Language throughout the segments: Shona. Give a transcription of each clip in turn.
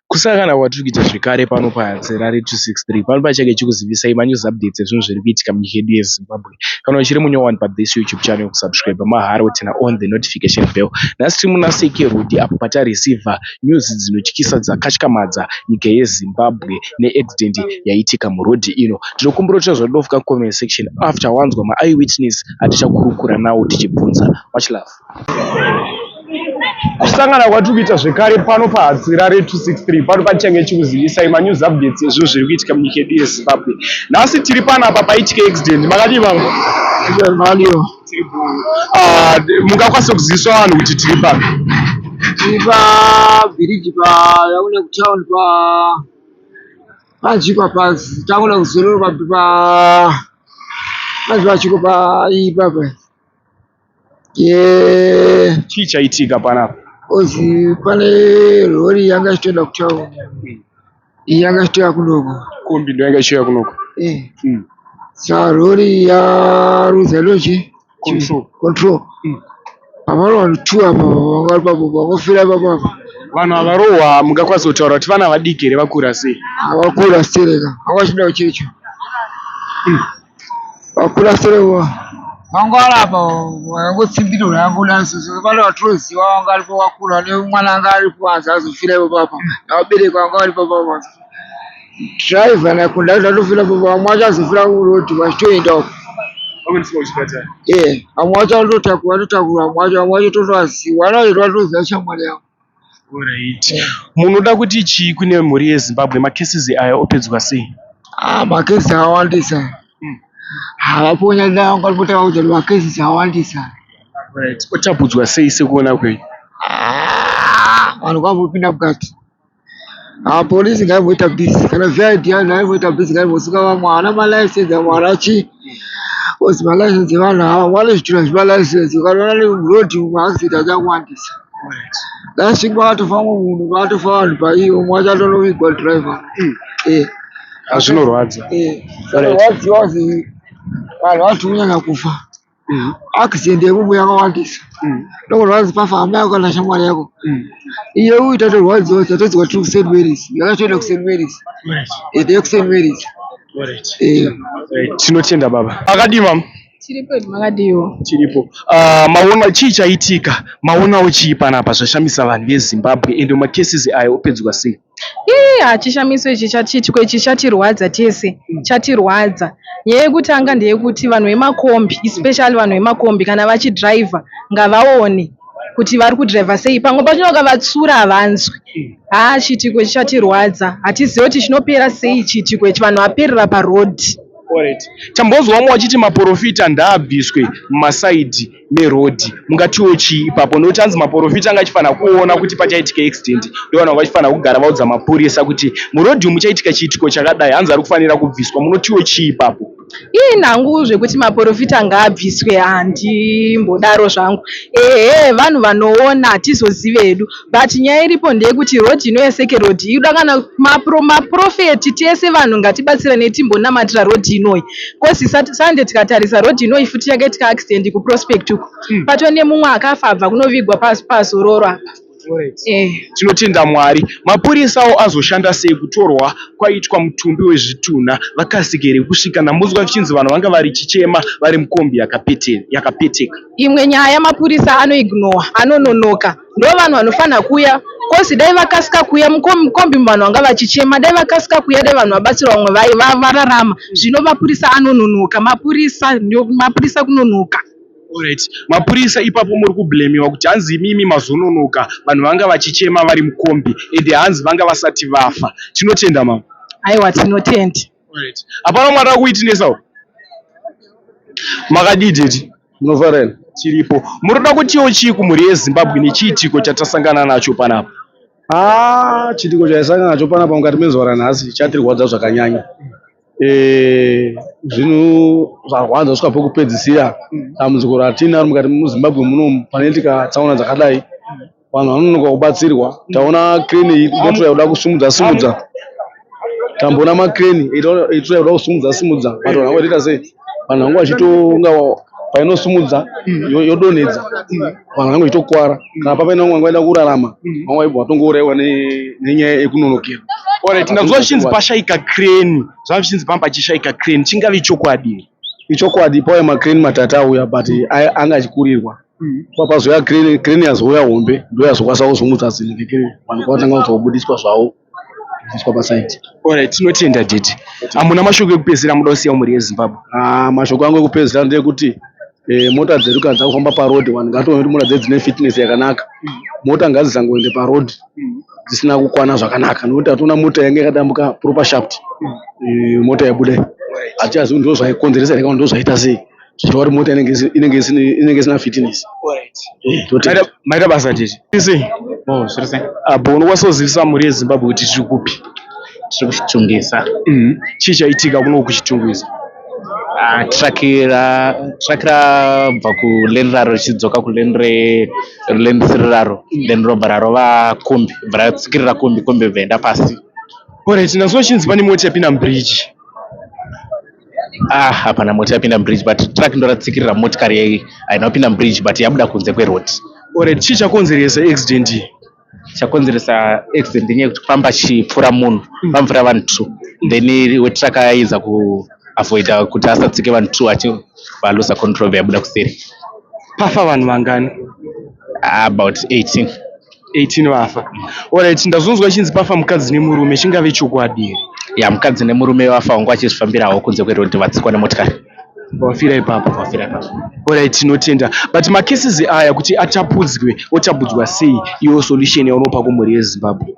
Kusangana kwatiri kuita zvekare pano paZerare 263 pano pachake chikuzivisai manews updates ezvinhu zviri kuitika munyika yedu yeZimbabwe. Kana uchiri munyowani one pa this YouTube channel kusubscribe mahara wotina on the notification bell. Nhasi tiri muna Seke Road apo patareceiver news dzinotyisa dzakatyamadza nyika yeZimbabwe neaccident yaitika muroad ino. Tinokumbira kuti zvadofuka comment section after wanzwa ma eyewitness atichakurukura nawo tichibvunza. Much love. kusangana kwatiri kuita zvekare pano pahadzira re263 pano patichange chikuzivisai manews updates ezvinhu zviri kuitika munyika yedu yezimbabwe nhasi tiri panapa paitika accident makadii vangu ah, mungakwanisa kuziviswa vanhu kuti tiri papi tiri pabhiriji payaona kutown pa panzvi papazi taona kuzororo papi pa panzvi pachiko paipapa Yeah. Chii chaitika panapa? Ozi pane rori yanga ichitoenda kutown. Mm. Yanga ichitoya kunoko. Kombi ndo yanga ichitoya kunoko. Eh. Mm. Sa rori ya Ruza Lodge control. Control. Mm. Pamalo vanhu two apa vanga papo vangofira papo apa. Vanhu avarohwa mungakwanisa kutaura kuti vana vadiki here vakura sei? Vakura sei rega. Hawachida uchecho. Mm. Wakula sere wa. Wangu alapa wangu tsimbiro wangu lanso so vale watroziwa wangu alipo wakula ne mwana anga alipo anza azofira ipo papa. Na wabereki wangu alipo papa. Driver na kunda zvatofira papa mwacha azofira ku road wachitoenda uko. Pamwe ndisimo chipatara. Eh, amwacha ndotakura ndotakura mwacha mwacha totoaziwa. Ana ndo atoziva shamwari yangu. Alright. Munoda kuti chii kune mhuri yeZimbabwe? Macases aya opedzwa sei? Ah, macases awandisa. Hmm. Havaponya ndawo kwalipota vauza kuti macases awandisa. Alright. Otapudzwa sei sekuona kwenyu? Ah, vanhu kwavopinda mukati. Ah, polisi ngaimboita busy kana VID yayo ngaimboita busy ngaimbosuka vamwe havana malicense amwe havana chii coz malicense evanhu ava amwe anozvitura zvemalicense ukanoona neroad umwe accident achawandisa last week vakatofa umwe munhu vakatofa vanhu paiyo umwe wacho atonovigwa driver eh Hazvinorwadza. eh Right. vaziva kuti vanhu vati kunyanya kufa mm. accident yemumu yakawandisa mm. ndokurwadzi pafamba yako kana shamwari yako mm. iye uyu tatorwadziwa tatodzwa tiri kusaint marys yakatoenda kusaint marys ende yekusaint marys tinotenda baba akadii mama tiripo makadiwo tiripo uh, maona chii chaitika maonawo chii panapa zvashamisa vanhu vezimbabwe ende macases ayo opedzwa sei Ii hachishamiso ichi chatitwe ichi chatirwadza tese chatirwadza nyaya yekutanga ndeyekuti vanhu vemakombi especially vanhu vemakombi kana vachidriver ngavaone kuti vari kudriver sei pamwe pacho vakavatsura havanzwi haa chiitiko ichi chatirwadza hatizive kuti chinopera sei chiitiko ichi vanhu vaperera paroad Correct. Tambonzwa vamwe vachiti maporofita ndaabviswe mumasaidhi. meroad mungatiwo chii ipapo nokuti hanzi maporofita anga achifanira kuona kuti pachaitika accident ndovanhu vanga vachifanira kugara vaudza mapurisa kuti muroad umu muchaitika chiitiko chakadai hanzi ari kufanira kubviswa munotiwo chii ipapo ii nangu zvekuti maporofita ngaabviswe handimbodaro zvangu ehe vanhu vanoona hatizozive hedu But nyaya iripo ndeyekuti road ino yeseke road inoda kana maprofeti tese vanhu ngatibatsirane timbonamatira road inoyi coz sande tikatarisa road inoyi futi yakaitika accident kuprospect uko hmm. pato nemumwe akafa abva kunovigwa pazororo apa eh. tinotenda mwari mapurisawo azoshanda sei kutorwa kwaitwa mutumbi wezvitunha vakasike here kusvika namunzwa vichinzi vanhu vanga vari chichema vari mukombi yakapeteka imwe nyaya mapurisa anoignowa anononoka Ndovanhu vanofanha kuuya coz dai vakasika kuuya mukombi umu vanhu vanga vachichema dai vakasika kuuya dai vanhu vabatsirwa vamwe vaiva vararama zvino mapurisa anononoka mapurisa mapurisa kunonoka. Alright mapurisa ipapo muri kublemiwa kuti hanzi imimi mazononoka vanhu vanga vachichema vari mukombi ende hanzi vanga vasati vafa. Tinotenda mama. Aiwa tinotenda. Alright. Hapana umwe ataka kuitinesa uko. Makadii tete? Munofara here? Tiripo. Munoda kutiwo chii kumhuri yeZimbabwe nechiitiko chatasangana nacho panapa? Ah, chiitiko chaisangana nacho panapa mukati mezuva ranhasi chatirwadza zvakanyanya. Eh, zvinhu zvarwadza kusvika pokupedzisira dambudziko ratinaro mukati muZimbabwe muno panoitika tsaona dzakadai. vanhu vanonoka kubatsirwa taona crane inotoda kuda kusimudza simudza tamboona macrane itoda kuda kusimudza simudza but vanhu vangoita sei vanhu vanga vachitonga painosimudza yodonhedza vanhu vange vachitokwara kana papaina vamwe vanga vaida kurarama vamwe vaibva vatongouraiwa nenyaya yekunonokera orit ndakuziva zvichinzi pashaika crane zvanga zvichinzi pamba pachishaika crane chingave chokwadi ichokwadi pauya macrane matatu auya but anga achikurirwa Papa zvoya crane crane yazouya hombe ndo yazokwanisa kuzungudza zvinhu ngekere vanhu kwatanga kuzobudiswa zvavo kubviswa pasaiti Alright, tinotenda tete. Amuna mashoko ekupedzisira amuda kusiya mhuri yeZimbabwe. Ah, mashoko angu ekupedzisira ndeyekuti eh, mota dzedu kana dzakufamba paroad vanhu ngatione kuti mota dzedu dzine fitness yakanaka mota ngadzizangoende paroad dzisina kukwana zvakanaka nekuti hationa mota yange yakadambuka proper shaft eh, mota yabuda iyi hatichazivi kuti ndozvaikonzeresa here kana kuti ndozvaita sei zvichitaura kuti mota inenge isi- inenge isine inenge isina fitness Eh, totenda. Maita- maita basa tete Isi. Oh, zviri sei? apo unokwanisa kuzivisa mhuri yezimbabwe kuti tiri kupi tiri kuchitungisa chii chaitika kuno kuchitungisa Ah, truck ra truck rabva kuleni raro richidzoka kuleni re ruleni risiri raro then robva rarova kombi bva ratsikirira kombi kombi bva enda pasi orit nazvo chinzi pane mota yapinda mubridge ah hapana mota yapinda mubridge but truck ndoratsikirira motikari yai haina kupinda mubridge but yabuda kunze kweroad ore chii chakonzeresa accident iyi chakonzeresa accident inyaya yekuti pamba chipfura munhu hmm. pamvura vanhu two hmm. then wetraka yaiza kuavoida kuti asatsike vanhu two achi valosa control yabuda kuseri pafa vanhu vangani about 18 18 vafa orit ndazonzwa chinzi pafa mukadzi nemurume chingave chokwadi here ya mukadzi nemurume vafa wangu achizvifambirawo kunze kwerodhi vatsikwa nemotikari wafira ipapo wafira ipapo orit tinotenda but macases aya kuti atapudzwe otapudzwa sei iyo solution yaunopa kumhuri yezimbabwe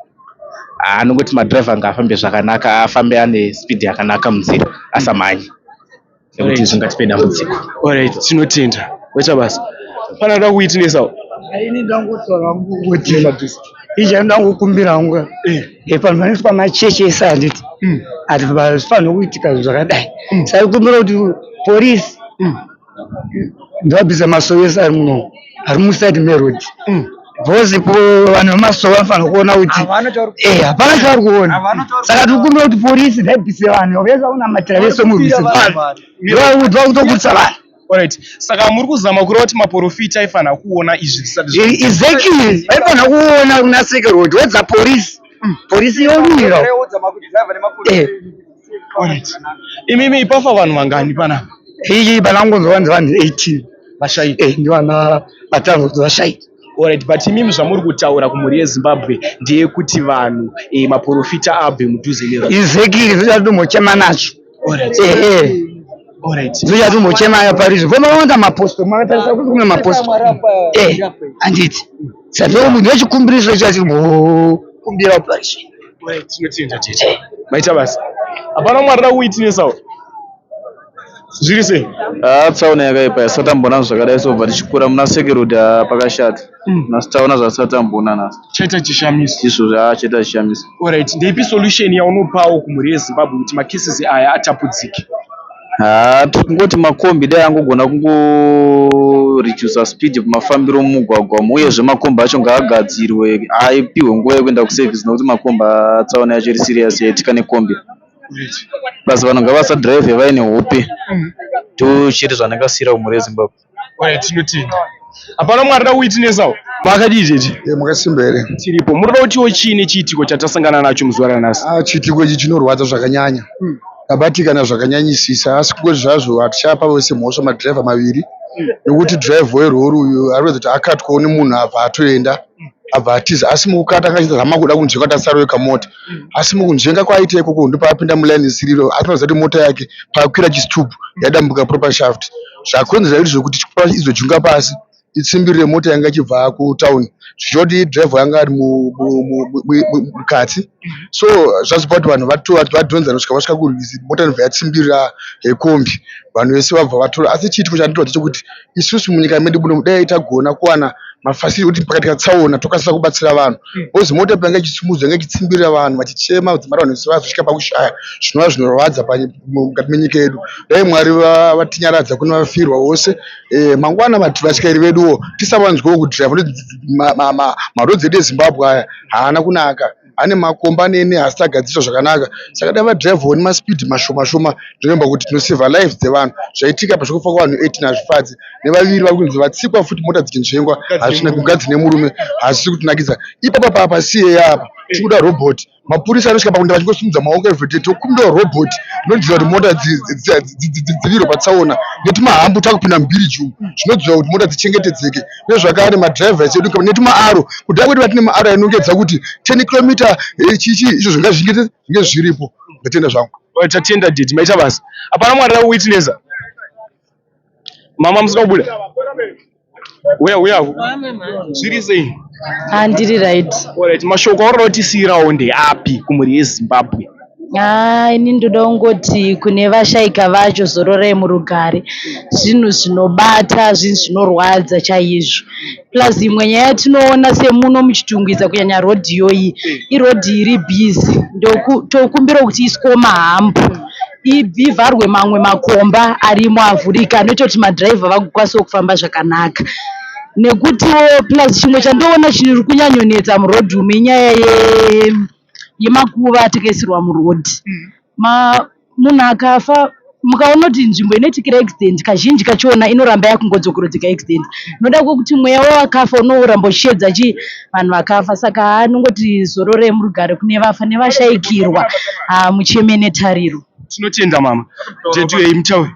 anongoti madriver ngaafambe zvakanaka afambe ane speed yakanaka munzira asamhanye nekuti zvingatipe dambudziko orit tinotenda waita basa pana da kuitinesawo ini ndangotaura hangu kuti izvi andangokumbira hangu epanhu panoitwa machechi ese handiti ati pazifanira kuitika zvakadai saikumbira kuti porisi ndovabvisa masoyo ese ari muno ari muside meroad mm. bcause po vanhu vemasowa vanofanira kuona kuti eh, hapana chavari kuona saka tikumbira kuti porisi daibise vanhu vese vaunamatira vese murwisi vanhu vaudzwa kutokurisa vanhu Alright. Saka muri kuzama kureva kuti maporofita aifanira kuona izvi zvisati zvii. Exactly. Aifanira kuona kuna Secret Road. What's the police? Mm. Police yomira. Eh. Imimi ipafa vanhu vangani panapa? Iyi pana ngonzwa vanzi vanhu 18 vashaika. Eh, ndivana vatano kuti vashaika. Alright, but imimi zvamuri kutaura kumhuri yeZimbabwe ndeyekuti vanhu eh, maporofita abve mudhuze nevanhu. Izekiri zvichatombochema nacho. Alright. Eh, eh. Alright. Zvichatombochema ya Paris. Voma wanda maposto, makatarisa kuti kuna maposto. Eh, anditi. Saka munhu wechikumbirisa chati kumbira parishi. Tinotenda tete. Eh. Maita basa. Hapana mwari da kuitinesa. Zviri sei? Ah, tsaona yakaipa yasatambona zvakadai sobva tichikura muna sekerudi ah, pakashata. Hmm. Nhasi taona zvasatambona nhasi. Chaita chishamiso. Izvo ah, chaita chishamiso. Alright, ndeipi solution yaunopawo kumhuri yeZimbabwe kuti macases aya atapudzike? Haa tirikungoti makombi dai angogona kungoreducer speed mafambiro mumugwagwa umu uyezve makombi acho ngaagadzirwe apihwe nguva yekuenda kuservice nekuti makombi haa tsaona yacho iri serious yaitika nekombi plus vanhu ngavasadrive vaine hope tochiti zvanakasira kumhuri yezimbabwe Oya tinotenda. Hapana mumwe arida kuwitinesawo. Makadii tete? Eh, makasimba here? Tiripo. Muri kuda kutiwo chii nechiitiko chatasangana nacho muzuva ranhasi? Ah, chiitiko ichi chinorwadza zvakanyanya. Hmm. Tabatikana zvakanyanyisisa asi kungoti zvazvo hatichapa vose mhosva madhiraivha maviri hmm. nekuti dhiraivha werori uyu ari kuratidza kuti akatwawo nemunhu abva atoenda hmm. abva atiza asi mukukata akaita zama kuda kunzvenga kuti asaroyeka mota asi mukunzvenga kwaaita ikoko ndipo apinda mulaini isiriro asi panoziva kuti mota yake paakwira chistubhu yadambuka proper shaft Zvakonzera izvi zvekuti izojunga pasi itsimbirire mota yanga ichibva kutown zvichireva kuti driver yanga ari mukati so zvazopa kuti vanhu vadhonzane kusvika vasvika kurwizi mota inobva yatsimbirira yekombi vanhu vese vabva vatora asi chiitiko chandiroadza chekuti isusu munyika medu muno dai tagona kuwana mafasiri kuti pakati katsaona tokasira kubatsira vanhu bcause mota payanga ichisimudzwa yanga ichitsimbirira vanhu vachichema kudzimara vanhu vese vazosvika pakushaya zvinova zvinorwadza mukati menyika yedu dai mwari vatinyaradza kune vafirwa vose eh, mangwana vati vatyairi veduwo tisavanzwewo kudrive marodzi edu ezimbabwe aya haana kunaka ane makomba nene asi tagadziswa zvakanaka saka dai vadrivewo nemaspeed mashoma shoma ndinomba kuti tinoseva life dzevanhu zvaitika pa zvekufa kwavanhu 18 hazvifadzi nevaviri vari kunzi vatsikwa futi mota dzichinzvengwa hazvina kugadzine murume hazvisi kutinakidza ipapa papa siye yapa tikuda robhoti mapurisa anosvika pakuti vachingosimudza maoko evhete tokumbira robot rinodziva kuti mota dzivirwe patsaona netimahambu takupinda mubiriji umu zvinodziva kuti mota dzichengetedzeke nezvakare madrivers edu netimaaro kudai kuti vatine maaro ainongedza kuti ten kilometer eh, chichi izvo zvinga zvingete zvinge zviripo ndatenda zvangu tatenda didi maita basa hapana mwana witnesa Mama musina kubuda. Uya uya. Zviri sei? Ah ndiri right. Alright, mashoko auri kutisiirawo ndeapi kumhuri yeZimbabwe? Ah ini ndoda kungoti kune vashaika vacho zororai murugare. Zvinhu zvinobata, zvinhu zvinorwadza chaizvo. Plus imwe nyaya yatinoona semuno muchitungwiza kunyanya road iyoyi iroad iri busy tokumbira kuti iskoma hambu ivharwe mamwe makomba arimo avhurika anoita kuti madriver vakwanisewo kufamba zvakanaka nekutiwo plus chimwe chandoona chiri kunyanyonetsa muroad umu inyaya ye yemakuva atakaisirwa muroad munhu akafa mukaona kuti nzvimbo inoitikira accident kazhinji kachona inoramba yakungodzokorodzeka accident noda kwekuti mweya wawakafa unoramba uchiedza chii vanhu vakafa saka anongoti zororei murugare kune vafa nevashaikirwa haa mucheme netariro tinotenda mama jedu yei mutaure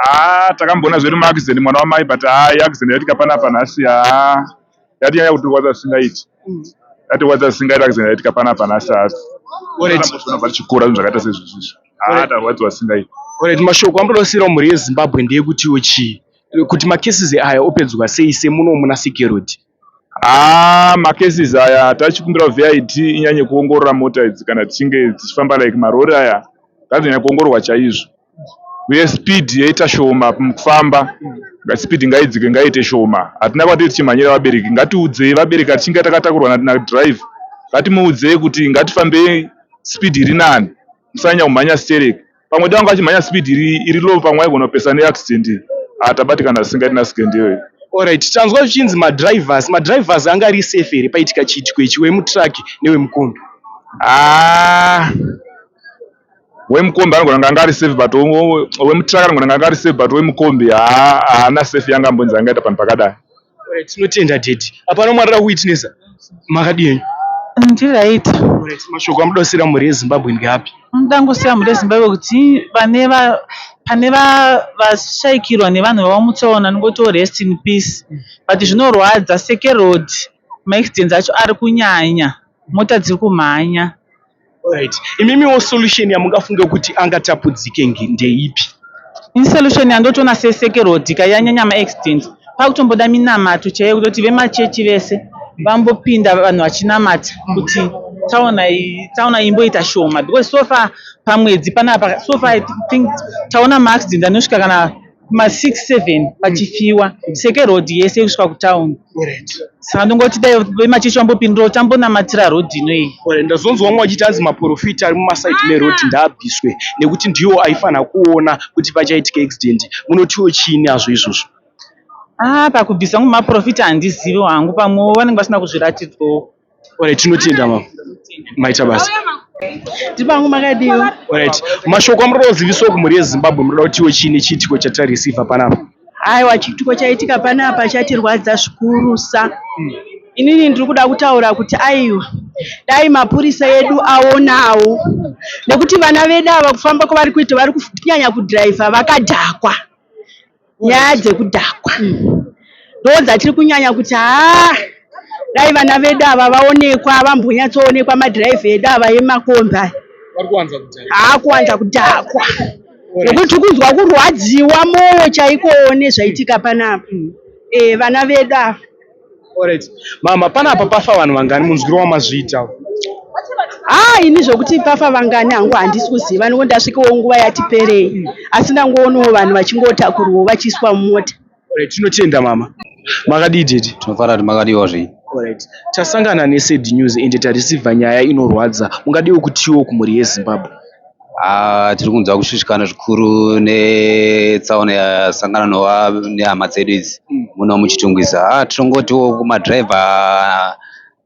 haa takamboona zvedu maaccident mwana wamai but haa accident yaitika panapa nhasi haa yati nyaya kutirwadza zvisingaiti yatirwadza zvisingaiti akazenda yaitika pana pana sars aambozvionabva tichikura zvinhu zvakaita sezvizvizvo haa tarwadziwa zvisingaiti oret mashoko amboda kusiyirawo mhuri yezimbabwe ndeyekutiwo chii kuti macases aya opedzwa sei semuno muna security haa ah, macases aya tachikumbira vid inyanye kuongorora mota idzi kana dzichinge dzichifamba like marori aya ngadzonyanya kuongororwa chaizvo uye speed yaita shoma mukufamba speed ngaidzike ngaite shoma hatina kwatiri tichimhanyira vabereki ngatiudzei vabereki atichinge takatakurwa nadrive ngatimuudzei kuti ngatifambei speed iri nani musanyanya kumhanya sterek pamwe dai wanga achimhanya speed iri, iri low pamwe aigona kupesa neaccident ah, tabatikana zvisingaiti nasikendewei Alright, tanzwa zvichinzi madrivers madrivers anga ari safe here paitika chiitiko ichi wemutrack newemukombi? Ah, wemukombi anogona kunge anga ari safe but wemutraka anogona kunge anga ari safe but wemukombi haana safe yanga ambonzi angaita panhu pakadai tinotenda dedi apa ana mwari ra kuwitnesa makadii henyu ndiright mashoko amuda kusiyira mhuri yezimbabwe ndeapi muda ngosiyira mhuri yezimbabwe kuti vane va pane vashaikirwa nevanhu vavo mutsaona ndingotiwo rest in peace but zvinorwadza sekerod maaccidents acho ari kunyanya mota dziri kumhanya Right. Imimiwo solution yamungafunge kuti angatapudzike nge- ndeipi? Ini solution yandotoona sesekero kuti kai yanyanya maaccident pakutomboda minamato chaiyo kutoti vemachechi vese vambopinda vanhu vachinamata kuti taona i- taona imboita shoma because so far pamwedzi panapa so far I think taona maaccident anosvika kana kuma 6 7 pachifiwa mm. seke road yese kusvika kutown saka ndongoti dai vemachechi vambopindirawo tambonamatira road ino iyi ndazonzwa vamwe vachiti anzi maprofita ari mumasaidi ah. meroad ndaabviswe nekuti ndiwo aifanira kuona kuti pachaitika accident munotiwo chiini azvo izvozvo aa ah, pakubvisa mumaprofita handizivi wangu pamwewo vanenge vasina kuzviratidzwawo Alright, tinotenda mama. Maita basa. Ndipangu makadii? Alright. Mashoko amuri kuziviswa kumhuri yeZimbabwe munoda kutiwo chini chiitiko chatarisivha panapa? Aiwa chiitiko chaitika panapa chatirwadza zvikurusa. Hmm. Inini ndiri kuda kutaura kuti aiwa dai mapurisa edu aonawo nekuti vana vedu ava kufamba kwavari kuita vari kunyanya kudhiraivha vakadhakwa. Nyaya dzekudhakwa ndodzatiri kunyanya kuti haa dai vana vedu ava vaonekwa vambonyatsoonekwa madhiraivha edu ava emakombi aya haa kuwanza kudhakwa nokuti tiri kunzwa kurwadziwa mwoyo chaikowo nezvaitika panapa e, vana vedu ava Alright. Mama panapa pafa vanhu vangani munzwiro wamazviita? Ah, ini zvokuti pafa vangani hangu handisi kuziva nekuti ndasvikawo nguva yati perei asi ndangoonawo vanhu vachingotakurwawo vachiiswa mumota. Alright, tinotenda mama. Makadii daddy? Tinofara kuti makadiwa zvii. Alright. Tasangana nesad news ende tareceiver nyaya inorwadza. Mungadiwo kutiwo kumhuri yeZimbabwe? Haa tiri kunzwa kushushikana zvikuru netsaona yasangana nehama dzedu idzi muno muChitungwiza. Haa tinongotiwo kumadhiraivha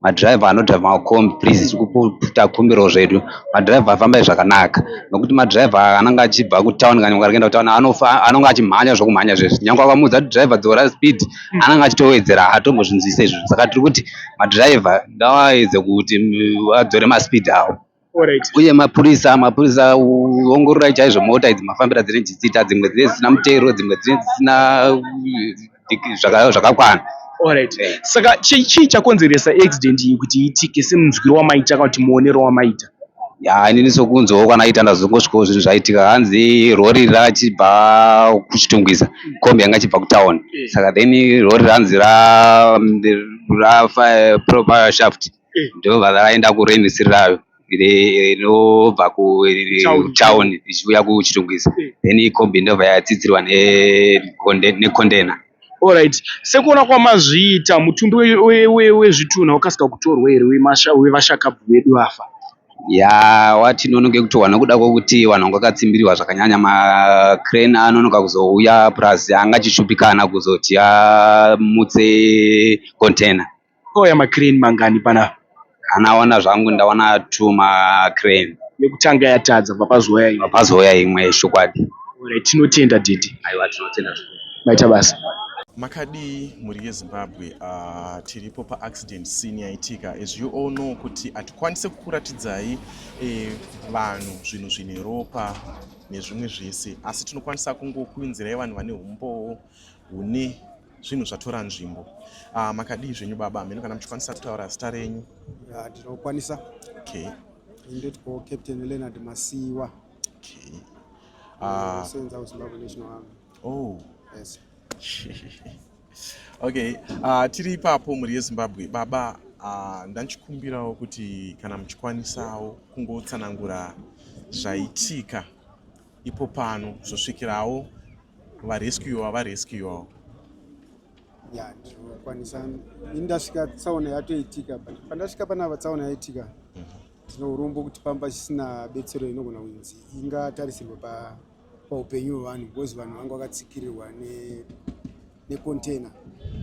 madhiraivha anodhiraivha makombi please tiri kupu- takumbirawo zvedu madhiraivha afambai zvakanaka nokuti madhiraivha anenge achibva kutawuni kana nyangwe akaenda kutawuni anofa anenge achimhanya zvokumhanya zvezvi nyangwe akamuudza kuti dhiraivha dzora speed anenge achitowedzera haatombozvinzwisise izvozvo saka tiri kuti madhiraivha ngaaedze kuti mm, adzore maspeed awo Alright. uye mapurisa mapurisa ongororai chaizvo mota idzi mafambira dzinenge dzichiita dzimwe dzinenge dzisina mutero dzimwe dzinenge dzisina uh, zvaka- zvakakwana Alright. Eh. Saka chii chii chakonzeresa accident iyi kuti iitike semunzwiro wamaita kana kuti muonero wamaita? ya inini sokunzwawo kwanaita ndazongosvikawo zvinhu zvaitika hanzi rori rachibva kuchitungwiza kombi yanga ichibva kutown saka then rori ranzi ra- rafa proper shaft eh. ndo vaenda kurain sirirayo inobva kutown ichiuya kuchitungwizi eh. then ikombi ndobva yatsidzirwa necontainer Alright, sekuona kwamazviita mutumbi wezvitunha wakasika kutorwa here wevashakabvu vedu vafa? Ya, watinonoke kutorwa nokuda kwokuti vanhu vanga vakatsimbiriwa zvakanyanya macrane anonoka kuzouya plus anga achishupikana kuzoti amutse container. Kwakauya macrane mangani panapa? Anaona zvangu ndaona two macrane. Yekutanga yatadza bva pazouya imwe. Pazouya imwe chokwadi. Alright tinotenda Dede. Aiwa tinotenda zvikuru. Maita basa. Makadii mhuri yeZimbabwe uh, tiripo paaccident scene yaitika as you all know kuti hatikwanise kukuratidzai eh, vanhu zvinhu zvine ropa nezvimwe zvese asi tinokwanisa kungokuinzirai vanhu vane umbowo hune zvinhu zvatora nzvimbo uh, makadii zvenyu baba mheno kana muchikwanisa kutaura zita renyu ndinokwanisa yeah, okay. ndetiko captain leonard masiwa okay. uh, senza kuzimbabwe national army oh. yes. okay uh, tiri ipapo mhuri yezimbabwe baba uh, ndanchikumbirawo kuti kana muchikwanisawo kungotsanangura zvaitika ipo pano zvosvikirawo varescuwa varescuwawo ya ndinokwanisa indasvika tsaona yatoitika but pandasvika panapa tsaona yaitika tino mhm. urombo kuti pamba chisina betsero inogona kunzi ingatarisirwa pa paupenyu hwevanhu because vanhu vanga vakatsikirirwa necontainer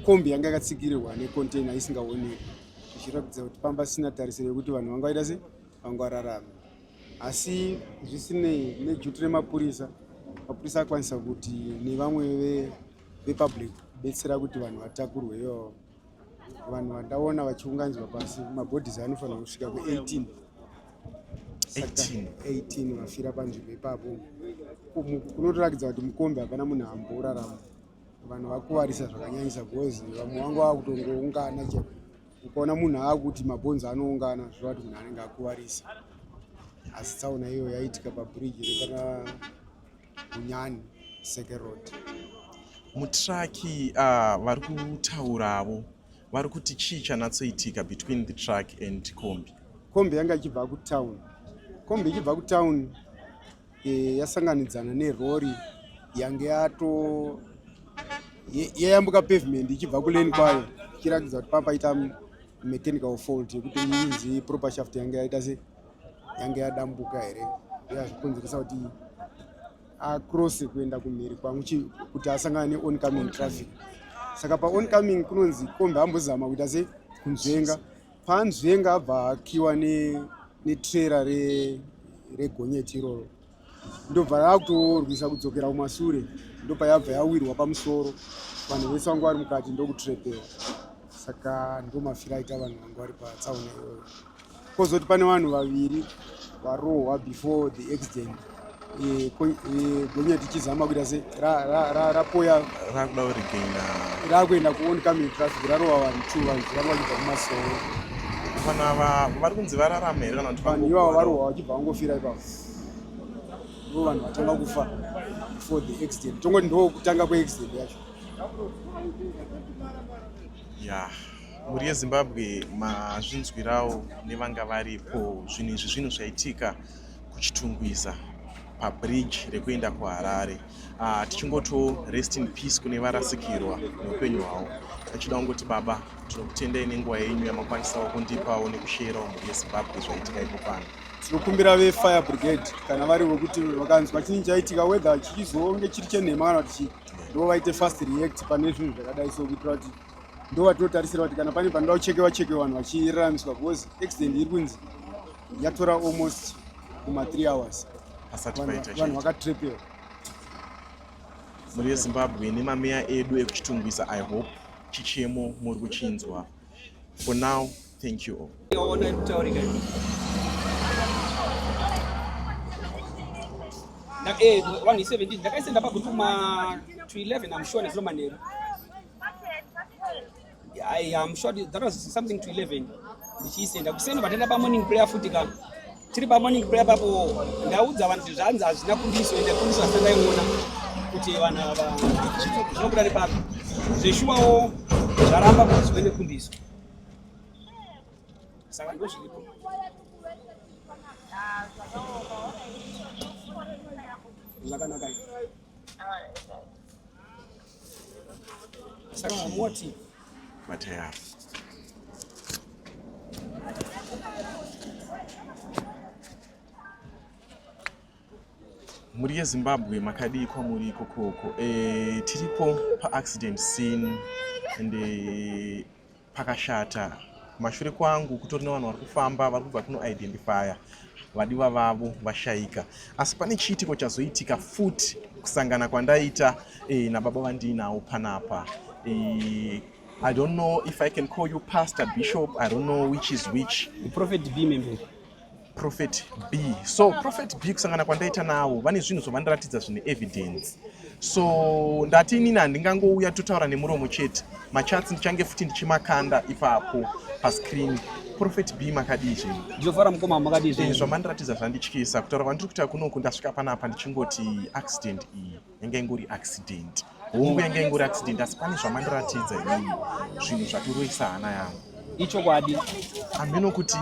kombi yanga yakatsikirirwa necontainer isingaoneki ichiratidza kuti pamba sina tarisiro yekuti vanhu vanga vaita se vangwararame asi zvisinei nejuti remapurisa mapurisa akwanisa kuti nevamwe vepublic kubetsera kuti vanhu vatakurwe iyo vanhu vandaona vachiunganidzwa pasi mabhodhisi anofanira kusvika ku18 18 vafira panzvimbo ipapo kunotorakidza kuti mukombi hapana munhu amborarama vanhu vakuvarisa zvakanyanyisa because vamwe vanga vakutongoungana chete ukaona munhu aakuti mabhonzi anoungana zvoreva kuti munhu anenge akuvarisa asi tsaona iyo yaitika pabridge repana unyani seke road mutraki ah, vari kutauravo vari kuti chii chanatsoitika between the truck and kombi kombi yanga ichibva kutown kombi ichibva kutown e, yasanganidzana nerori yange yato yayambuka ye, pavement ichibva kuleni kwayo ichiratidza kuti pamba ita mechanical fault yekuti inzi proper shaft yange yaita se yange yadambuka here yazvikonzeresa kuti across kuenda kumhiri kwangu kuti asangane neoncoming traffic saka paoncoming kunonzi kombi ambozama kuita se kunzvenga Panzvenga abva akiwa netrera ne regonyeti iroro ndobva rakutorwisa kudzokera kumasure ndopa yabva yawirwa pamusoro vanhu vese vanga vari mukati ndokutrepera saka ndomafira aita vanhu vanga vari patsaona iyoyo kozoti pane vanhu vaviri varohwa before the accident eh, eh, gonya tichizama kuita se rapoya rakuda kurigaina rakuenda kuone coming traffic rarova vanhu two vanhu zviramba kuita kumasoro vanhu ava vari kunzi vararama here kana kuti vanhu ivavo varohwa vachibva vangofira ipavo ndo vanhu vatanga kufa before the accident tongoti ndo kutanga kweaccident yacho ya mhuri yezimbabwe mazvinzwirawo nevanga varipo zvinhu izvi zvinhu zvaitika kuchitungwiza pabridge rekuenda kuharare uh, tichingotiwo rest in peace kune varasikirwa neupenyu hwavo achida kungoti baba tinokutendai nenguva yenyu yamakwanisawo kundipawo nekusheyerawo mhuri yezimbabwe zvaitika ipo pano tinokumbira vefire brigade kana vari vekuti vakanzwa chinyi chaitika weather chichizonge chiri chenhema kana kuti ndo vaite fast react pane zvinhu zvakadai so kuitira kuti ndovatotarisira kuti kana pane panoda kuchekewa cheke vanhu vachiraramiswa because accident iri kunzi yatora almost kuma three hours vanhu vakatrepera mhuri yezimbabwe nemameya edu ekuchitungwisa i hope chichemo muri kuchinzwa for now thank you all eh, ndakaisenda paguru kuma to 11 amshona zinomanheru I am sure that was something to 11 ndichiisenda kuseni vatenda pamorning prayer futi ka tiri pamorning prayer papo ndaudza vanhu kuti zvanzi hazvina kundiso ende kundiso asi ndaiona kuti vanhu ava zvinobuda nepapi zveshuwawo zvaramba kuti zvive nekundiso saka ndozviripo zvakanaka mhuri yezimbabwe makadii kwamuri ikokoko e, eh, tiripo paaccident scene and e, pakashata kumashure kwangu kutori nevanhu vari kufamba vari kubva kuno identifya vadiwa vavo vashaika asi pane chiitiko chazoitika futi kusangana kwandaita e, nababa vandiinawo panapa e, i don't know if i can call you pastor bishop i don't know which is which prophet bmembe prophet b so prophet b kusangana kwandaita navo vane zvinhu zvovandiratidza zvine evidence so ndati inini handingangouya totaura nemuromo chete machatsi ndichange futi ndichimakanda ipapo pascreen prophet b makadii zvenyu ndinofara mukoma makadii zvenyu eh, zvamandiratidza zvandityisa kutaura kwandiri kuita kunoku ndasvika panapa ndichingoti accident iyi yanga ingori accident hongu yanga ingori accident asi pane zvamandiratidza inini zvinhu zvatiroisa hana yangu ichokwadi hameno kuti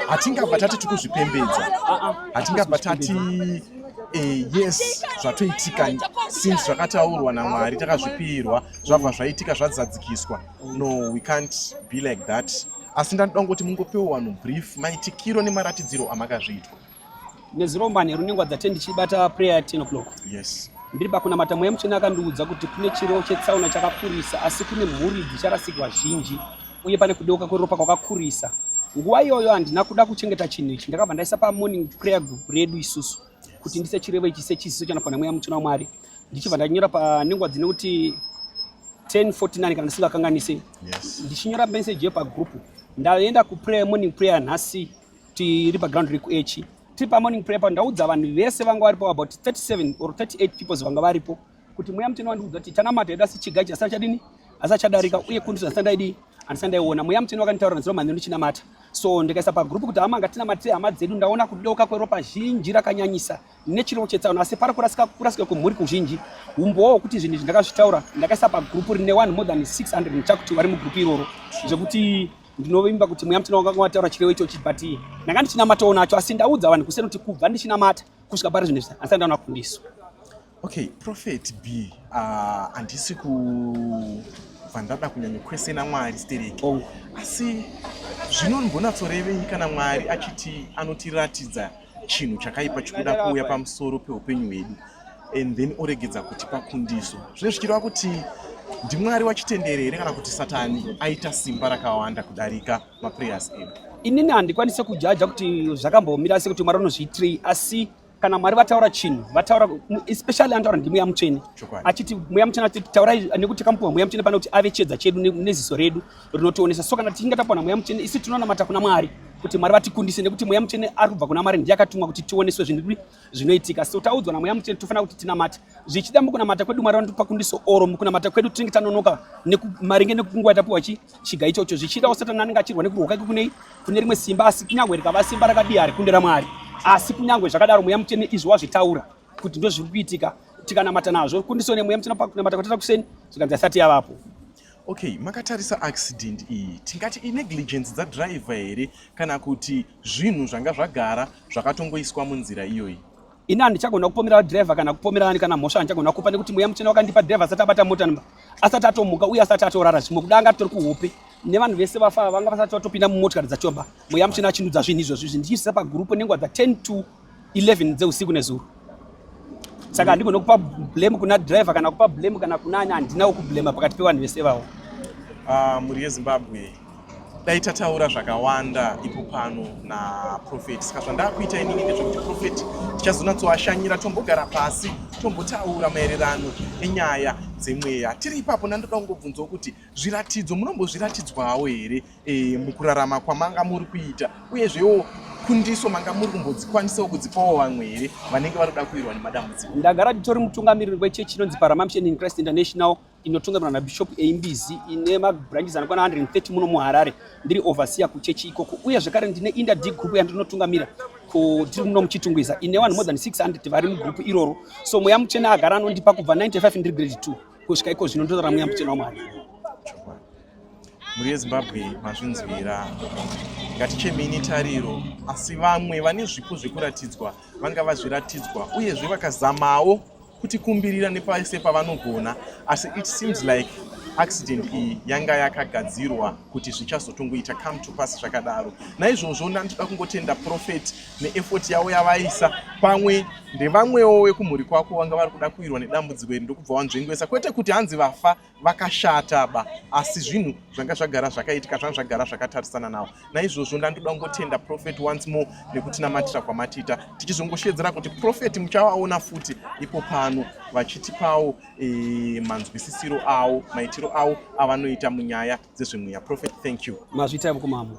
hatingabva tati tikuzvipembedza hatingabva tati eh, yes zvatoitika since zvakataurwa namwari takazvipirwa zvabva zvaitika zvadzadzikiswa no we can't be like that asi ndandida kungoti mungopewo vanhu brief maitikiro nemaratidziro amakazviitwa nezuro manheru nengwa dzate ndichibata prayer ya 10 o'clock yes ndiri pakunamata mweya mutsvene akandiudza kuti kune chirevo chetsaona chakakurisa asi kune mhuri dzicharasikirwa zhinji uye pane kudeuka kweropa kwakakurisa nguva iyoyo handina kuda kuchengeta chinhu ichi ndakabva ndaisa pamorning prayer group redu isusu kuti ndise chirevo ichi sechisiso chanapa nemweya mutsvene wamwari ndichibva ndanyora panengwa dzine kuti 1049 kana ndisingakanganise ndichinyora meseji yepagroup ndaenda kuprayer morning prayer nhasi yes. tiri paground rekuechi tiri pamorning prayer pa ndaudza vanhu vese vanga varipo about 37 or 38 peoples vanga varipo kuti mweya mutini wandiudza kuti tanamata yedu asi chigai chasara chadini asi chadarika uye kundi zvasina ndaidii andisana ndaiona mweya mutini wakanditaura nziro mhani ndichinamata so ndikaisa pagroup kuti hama nga tinamatire hama dzedu ndaona kudoka kweropa zhinji rakanyanyisa nechirevo chetsaona asi pari kurasika kurasika kwemhuri kuzhinji umbowo hwekuti zvinhu izvi ndakazvitaura ndakaisa pagroup rine one more than 600 chakuti vari mugroup iroro zvekuti Ndinovimba kuti mweya mutsvene wakanga wataura chirevo ichochi but ndanga ndichinamatawo nacho asi ndaudza vanhu kuseni kuti kubva ndichinamata kusvika pari zvinhu izvi handisati ndaona kufundiswa. Okay, Prophet B, ah, handisi uh, kubva ndada kunyanya kwesena Mwari stereki. Oh. Asi zvino ndimbonatsorevei kana Mwari achiti anotiratidza chinhu chakaipa chikuda kuuya pamusoro peupenyu hwedu and then oregedza kutipa kundiso zvine zvichireva kuti ndimwari wachitendere here kana kuti satani aita simba rakawanda kudarika maprayers edu inini handikwanise kujaja kuti zvakambomira sekuti mwari unozviitirei asi kana mwari vataura chinhu vataura especially anotaura ndimweya mutsvene achiti mweya mutsvene ati taurai nekuti takamupiwa mweya mutsvene pane kuti ave chiedza chedu neziso redu rinotionesa so kana tichinge tapiwa namweya mutsvene isi tinonamata kuna mwari kuti mwari vatikundise nekuti mweya mutsvene ari kubva kuna mwari ndiye akatumwa kuti tioneswe zvinhu zvinoitika so taudzwa namweya mutsvene tofanira kuti tinamate zvichida mukunamata kwedu mwari vanotipa kundiso oro mukunamata kwedu tinenge tanonoka maringe nekunguva yatapiwa chi chiga ichocho zvichidawo satani anenge achirwa nekurwa kwake kunei kune rimwe simba asi kunyange rikava simba rakadii hari kunde ramwari asi kunyange zvakadaro mweya mutsvene izvo wazvitaura kuti ndozviri kuitika tikanamata nazvo kundiso nemweya mutsvene pakunamata kwatata kuseni zvikanzi asati yavapo Okay, makatarisa accident iyi tingati inegligence dzadriver here kana kuti zvinhu zvanga zvagara zvakatongoiswa munzira iyoyi? Ini handichagona kupomera driver kana kupomera ani kana mhosva handichagona kupa nekuti mweya muchena wakandipa driver asati abata mota nba asati atomuka uye asati atorara zvimwe kuda anga tori kuhope nevanhu vese vafa vanga vasati vatopinda mumotikari dzachoba mweya muchena achindudza zvinhu izvozvi izvi ndichiisa pagurupu nenguva dza 10 to 11 dzeusiku nezuro saka handigone kupa blame kuna driver kana kupa blame kana kuna ani handinawo kublema pakati pevanhu vese vawo ah, mhuri yezimbabwe dai tataura zvakawanda ipo pano naprofet saka zvandakuita inini ndezvekuti profet tichazonatsoashanyira tombogara pasi tombotaura maererano enyaya dzemweya tiri ipapo nandoda kungobvunzawo kuti zviratidzo munombozviratidzwawo here e, mukurarama kwamanga muri kuita uyezvewo kundiso manga muri kumbodzikwanisawo kudzipawo vamwe here vanenge vari kuda kuirwa nemadambudziko ndagara nditori mutungamiriri wechechi inonzi paramamshen in christ international inotungamirwa nabishop eimbizi ine mabranches anokwana 130 muno muharare ndiri overseer kuchechi ikoko uye zvekare ndine inda d group yandinotungamira tiri muno muchitungwiza ine vanhu more than 600 vari mugrupu iroro so mweya muchena agara anondipa kubva 95 ndiri grade 2 kusvika iko zvino ndinotora mweya muchena wamwari mhuri yezimbabwe mazvinzwira ngatichemei netariro asi vamwe vane zvipo zvekuratidzwa vanga vazviratidzwa uyezve vakazamawo kutikumbirira nepase pavanogona asi it seems like accident iyi yanga yakagadzirwa kuti zvichazotongoita come to pass zvakadaro naizvozvo ndandida kungotenda profet neefort yavo yavaisa pamwe ndevamwewo vekumhuri kwako vanga vari kuda kuirwa nedambudziko iri ndokubva wanzvengwesa kwete kuti hanzi vafa vakashata ba asi zvinhu zvanga zvagara zvakaitika zvanga zvagara zvakatarisana nawo naizvozvo ndandoda kungotenda profet once more nekutinamatira kwamatiita tichizongoshedzera kuti profet muchavaona futi ipo pano vachitipawo e, manzwisisiro awo maitiro awo avanoita munyaya dzezvemweya profet thank you mazvita kumambo